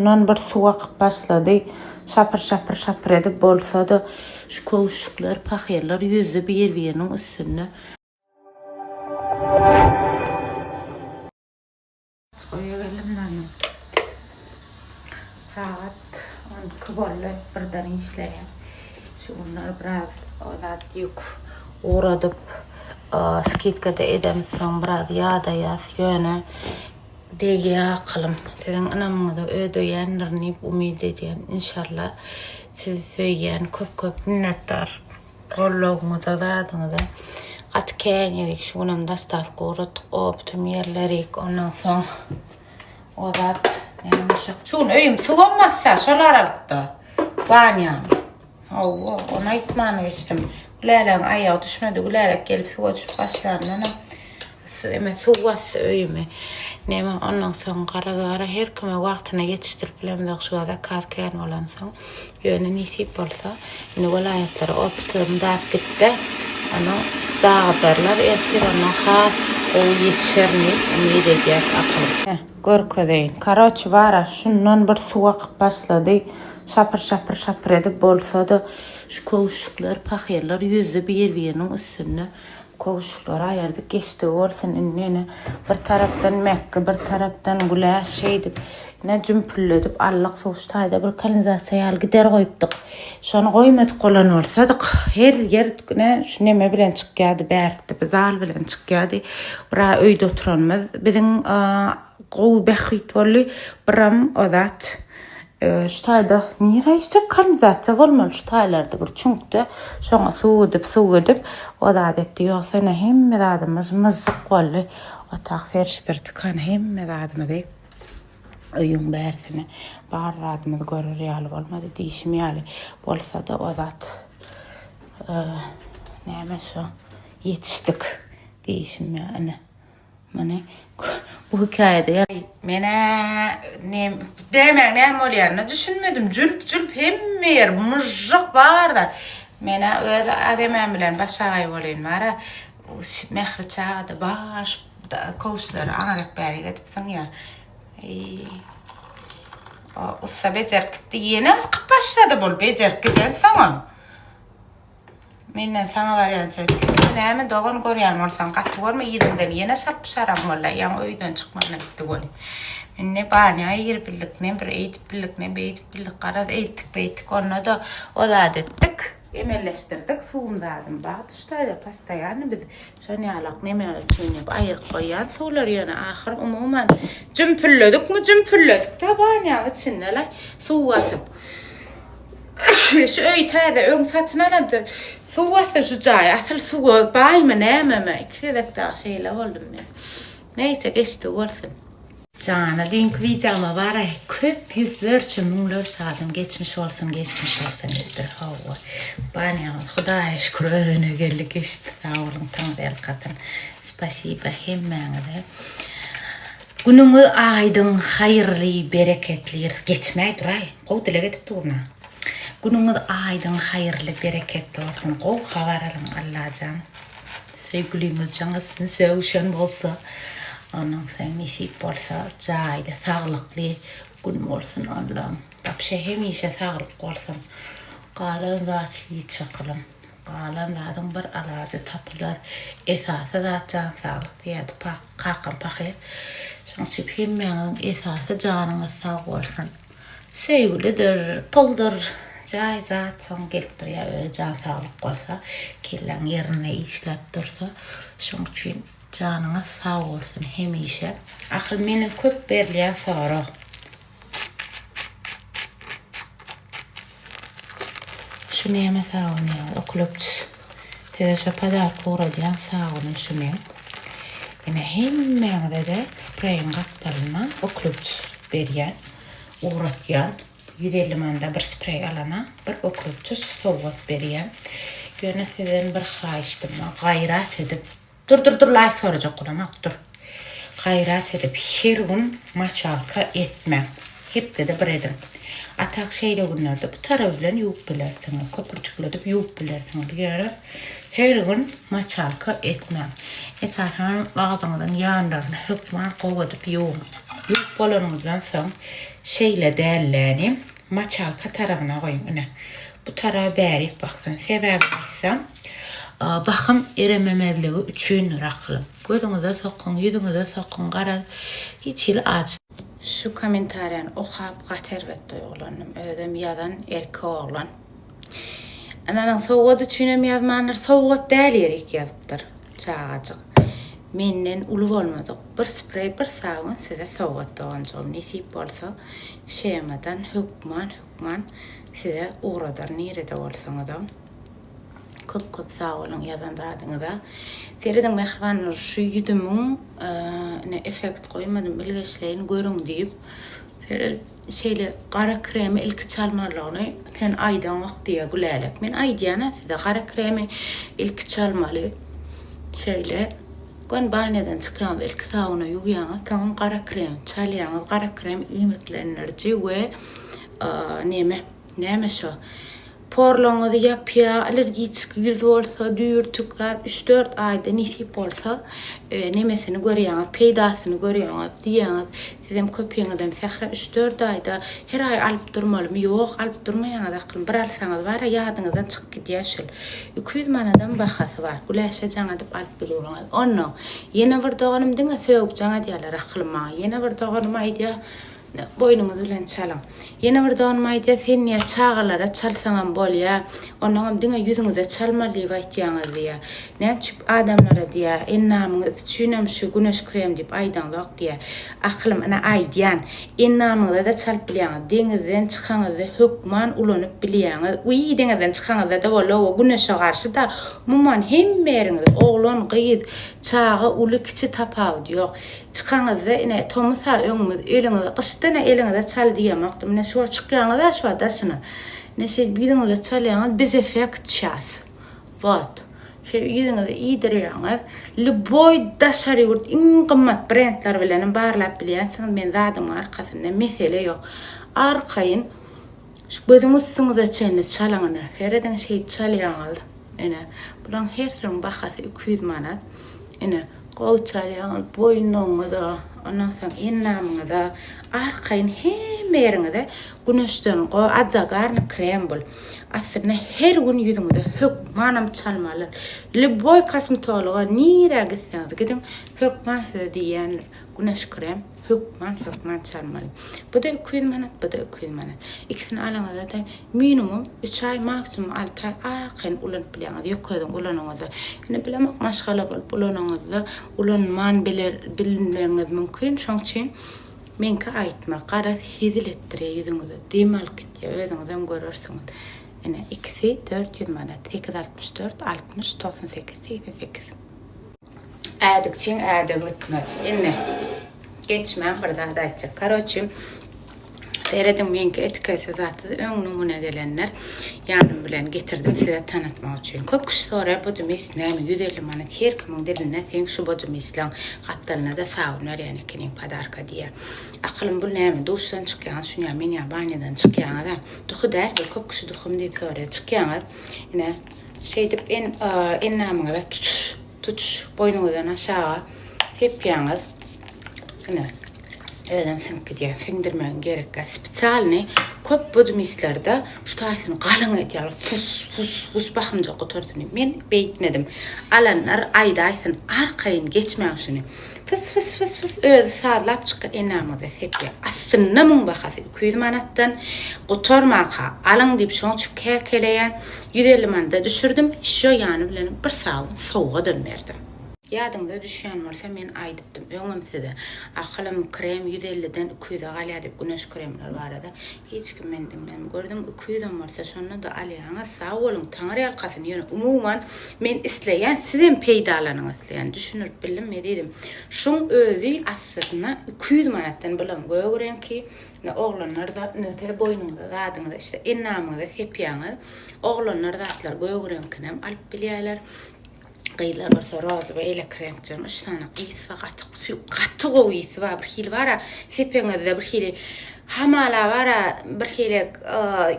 Ondan bir suw akyp başlady. Şapyr-şapyr-şapyr edip bolsa-da, şu köwüşjikler, pahyrlar ýüzdi bir-biriniň üstünde. Toýa geldim men. Sagat on iki boldy, birden işleýän. Şu günler biraz zat ýük ugradyp, skidka-da edemsoň biraz ýadaýas. Ýöne Degýä akylym. Siziň ynamyňyza ödeýändirin diýip umyt edýän. Inşallah. Sizi söýýän. Köp köp minnetdar. Goldawyňyza zadyňyza. Gaty kän ýerik. Şu günem dostawka ugratdyk. O bütin ýerlerik. Ondan soň o zat. Şu gün öýüm suwam bassa şol aralykda. Banýam. Hawa, ony aýtman geçdim. Gülälegiň aýagy düşmedi. Gülälek gelip suwa düşüp başlandanam eme suw basdy öýümi. Neme ondan soň garaz-gara her kime wagtyna ýetişdirip bilemzok şu zakaz kän bolansoň. Ýöne nesip bolsa, indi welaýatlara opytlarym däp gitde, ony dagydarlar, ertir ondan has gowy ýetişerin diýip umyt edýäs, akylym. Görkezeýin. Karoç bara şundan bir suw akyp başlady. Şapyr şapyr şapyr edip bolsada şu kowuşuklar pahyrlar ýüzdi bir biriniň üstünde. Kowuşuklary aýyrdyk geçdigi bolsun indi ene bir tarapdan Mekgi bir tarapdan Güläş şeýdip ene jümpülledip allyk suwuş taýda bir kanizasiýa ýaly gider goýupdyk. Şony goýmadyk bolan bolsadyk, her ýer ne şu neme bilen çykýardy, bärtdi, bir zal bilen çykýardy. Bira öýde oturanymyz biziň gowy bähbit boldy. Biram o zat e, şu taýda nire işjek kanalizatsiýa bolmaly şu taýlarda bir çüňkde şoňa suw edip, suw edip o zat etdi. Ýogsa ne hemme zadymyz myzzyk boldy. Otag serişdirdik, hany hemme zadymyzy. Öýüň bärsine bar zadymyzy görer ýaly bolmady. Diýşim ýaly, bolsa-da o zat näme şo ýetişdik diýşim ýaly. Ine, muny bu hekaýada ýa Men-ä nem, dämäň näme bolýanyna düşünmedim. Jülp-jülp hemme ýer, myžžyk bar zat. Men-ä öz ademim bilen başagaý bolyny bar-a. Mähri çagada baş kowçlary aňryk bäri gedipsiň ýa. O ussa bejerip gitdi. Ýene çykyp başlady bul bejerip giden soňam. Menden saňa barýança näme dogan görýän bolsaň gaty görme ýeriňden ýene şarp şaram bolla ýaň öýden çykmana gitdi bol. Men ne banya ýeri bildik ne bir eýdip bildik ne beýdip bildik garaz eýtdik beýtdik onda da o zat etdik. Emelleşdirdik suwum zadym bar tuştaýda postoýanny biz şonýalak neme üçin diýip aýyryp goýýan suwlar ýöne ahyr umuman jümpülledikmi jümpülledik da banýaň içindele suw basyp şu öýi täze öň satyn alamda suw basdy şu jaý asyl suwa baýmy nämemi iki gezek dagy şeýle boldum men neýse geçdi bolsun. Jana düýnki wideoma baray köp ýüzlerçe müňlerçe adam geçmiş bolsun geçmiş bolsun diýipdir howwa banýamyz hudaýa şükür özene geldi geçdi sag boluň taňry elkatyn spasiba hemmäňize günüňiz aýdyň haýyrly bereketli ýer geçmäý duraý gowy dileg edip durna günüňiz aýdyň haýyrly bereketli bolsun gowy habar alyň allajan. Söýgüliňiz jaň üstüne sögüşen bolsa onuň sen nesip bolsa jaýda saglykly gün bolsun Allam Babşa hemişe saglyk bolsun galan zat hiç çakylyň galan zadyň bir alajy tapylar esasy zat jan saglyk diýerdi kakam pahyr şoň üçin hemmäňiziň esasy janyňyz sag bolsun. Söýgülidir, puldur, jaý zat soň gelip durýar öz jan saglyk bolsa, kelläň ýerinde işläp dursa, şoň üçin janyňyz sag bolsun hemişe. Ahyl meniň köp berilýän sorag. Şu näme sabun ýaly okloptis. Size şo podarka ugradýan sabunym şu meň. Ine hemmäňize-de spreýiň gapdalynda okloptis berýän, ugratýan. Ýüz elli manda bir spreý alana bir okloptis sowgat berýän. Ýöne sizden bir haýyşdym, gaýrat edip Dur dur dur laýk sorajak bolamok dur. Gaýrat edip her gün maçalka etmäň. Hepdede bir ediň. Atak şeýle günlerde bu taraby bilen ýuwup bilersiňiz. Köpürjikledip ýuwup bilersiňiz. Ýöne her gün maçalka etmäň. Esasan agzyňyzyň ýanlaryny hökman gowy edip ýuwuň. Ýuwup bolanyňyzdan soň şeýle dälläni Maçalka tarabyna goýuň ine. Bu taraba bärik baksyn. Sebäbini aýtsam, wahym erememezligi üçindir aklym. Gözüňize sokuň, ýüzüňize sokuň, garaz, hiç hili aç. Şu kommentariýany okap gaty erbet duýgulandym. Özem ýazan erkek oglan. Ananyň sowgady üçinem ýazmandyr. Sowgat däl ýerik ýazypdyr çagajyk. Menden uly bolmadyk bir spreý, bir sabun size sowgat doganjygym. Nesip bolsa, shemadan hökman, hökman size ugradar nirede bolsaňyzam. Köp köp sag boluň ýazan zadyňyza. Serediň Mähriban Nur şu ýüzümiň ine effekt goýmadym bilgeşleýin görüň diýip. Şeýle Şeýle gara kremi ilki çalmalygyny sen aýdaňok diýýä Gülälek. Men aýdýan-a size gara kremi ilki çalmaly. Şeýle göni banýadan çykýaňyz ilki sabuna ýuwýaňyz soňam gara kremi çalýaňyz. Gara krem iýmitlendiriji we neme näme şo Porlaryňyzy ýapýa, allergiçki ýüz bolsa, düýrtük zat üç-dört aýda nesip bolsa, nemesini görýäňiz, peýdasyny görýäňiz, diýýäňiz. Sizem köpegiňizem sähra üç-dört aýda, her aý alyp durmalymy? Ýok, alyp durmaýaňyz aklym, bir alsaňyz bar-a, ýadyňyzdan çykyp gidýär şul. Iki ýüz manadam bahasy bar, güläşe jaň edip alyp bilýäňiz. Onnoň, ýene bir doganym diňe sögüp jaň edýärler aklym maňa. Ýene bir doganym aýdýar, Boýnuňyz bilen çalyň. Ýene bir donym aýdýar, Sen diýýär, çagalara çalsaňam bolýar, onnoňam diňe ýüzüňize çalmaly diýip aýtýaňyz diýýär. Näme üçip adamlara diýýär, Endamyňyz üçinem şu güneş krem diýip aýdaňzok diýýär. Akylym, ine aýdýan, endamyňyza-da çalyp bilýäňiz, deňizden çykaňyzda hökman ulanyp bilýäňiz. Wiý, deňizden çykaňyzda-da boldy, oba güneşe garşy-da, umuman hemme ýeriňize, oglan, gyz, çaga, uly, kiçi tapawudy ýok. Çykanyňyzda ine tomus-a öňümiz, eliňizi, gyşda ine eliňize çal diýemokdym. Ine şo çykýaňyz-a şo daşyna. Ine şeýdip ýüzüňize çalýaňyz, biz effekt düşýäs. Wot. Şeýdip ýüzüňize iýdirýäňiz. Lýuboý daşary ýurt iň gymmat brendler bilenem barlap bilýänsiňiz. Men zadymyň arkasynda, mesele ýok. Arkaýyn. Şu gözüň üstüňize çenli çalyň ine. Serediň şeýt çalýaňyz. Ine, bulaň hersiniň bahasy iki ýüz manat. Ine, gowy çalýaňyz, boýnuňyza, ondan soň endamyňyza, arkaýyn hemme ýeriňize güneşden go a zagarny krem bul. Aslynda her gün ýüzüňize hökmanam çalmaly. Lýuboý kosmetologa nirä gitseňiz gidiň, hökman size diýýändir, güneş krem. Hökman, hökman çalmaly. Bu-da iki ýüz manat, bu-da iki ýüz manat. Ikisini alaňyzda-da minimum üç aý, maksimum alty aý arkaýyn ulanyp bilýäňiz, ýokaryň ulanyňyzda. Ýöne bilemok, maşgala bolup ulanyňyzda ulanman biler, bilmegiňiz mümkin. Şoň üçin meňki aýtma, garaz, hezil etdirýär ýüzüňizi, dem alyp gitýär, özüňizem görersiňiz. Ine, ikisi dört ýüz manat, sekiz altmyş dört, altmyş, togsan sekiz, segsen sekiz. Ädikçiň ädigi bitmez. Indi geçmän bir zat aýtjak. Karoçi Serediň meňki etiketli zatdy. Öň numune gelenler ýanym bilen getirdim size tanatmak üçin. Köp kişi soraýar bu dmis näme? Ýüz elli manat her kimiň dilinde seň şu bu dmisleň gapdalynada sabun berýän ekeniň padarka diýýär. Akylym bu näme? Duşdan çykýaňyz şunyam men ýa banýadan çykýaňyz-a. Duhy däl bu köp kişi duhym diýip soraýar. Çykýaňyz ine Şeýdip endamyňyza tutuş boýnuňyzdan aşaga sepýäňiz. Ine, özem siňip gidýär. Siňdirmegiň gerek ýok. Spesialnyý köp budmistlerde şu taýsyny galyň edýärler. Fus, fus, fus bahymjyk gutarsyn diýip. Men beýtmedim. Alanlar aýdaýsyn, arkaýyn geçmäň şuny. Fys fys fys fys özi sazlap çykýa enäňize sepýa aslynda muň bahasy iki ýüz manatdan gutarmaka alyň diýip şoň üçin käkeleýä ýüz elli manada düşürdim şo ýany bilen bir sabun sowgadam berdim. Ýadyňyza düşýän bolsa men aýdypdym öňem size akylym krem ýüz elliden iki ýüze galýa diýip güneş kremler barada. Hiç kim meni diňlän gördüm iki ýüzem bolsa şonda-da alýaňyz sag boluň taňyrýalkasyn ýöne umuman men isleýän sizem peýdalanyň isleýän düşündirip bildim ezizim şuň özi aslyna iki ýüz manatdan bulam gök reňki ine oglanlar zat nöker boýnuňyza zadyňyza işte ennamyňyza sepýaňyz oglanlar zatlar gök reňkinem alyp bilýäler Gyzlar bolsa rozy we elek reňkjäň üç sany ysy bar, gaty sü- gaty gowy ysy bar. Bir hili bar-a, sepeňizde bir hili hamala bar-a, bir hili y,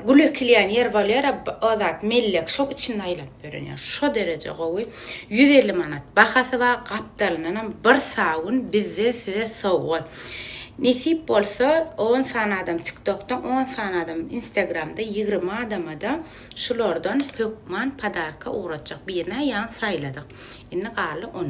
gül ekilýän ýer bolýar-a, b- o zat mellek, şoň içinde aýlanyp ýören ýaly. Şo dereje gowy. Ýüz elli manat bahasy bar, gapdalyndanam bir sabun bizden size sowgat. Nesip bolsa, on sany adam TikTokda, on sany adam Instagramda, ýigrimi adama-da Şulardan hökman podarka ugratjak birine ýan saýladyk. Indi galdy on.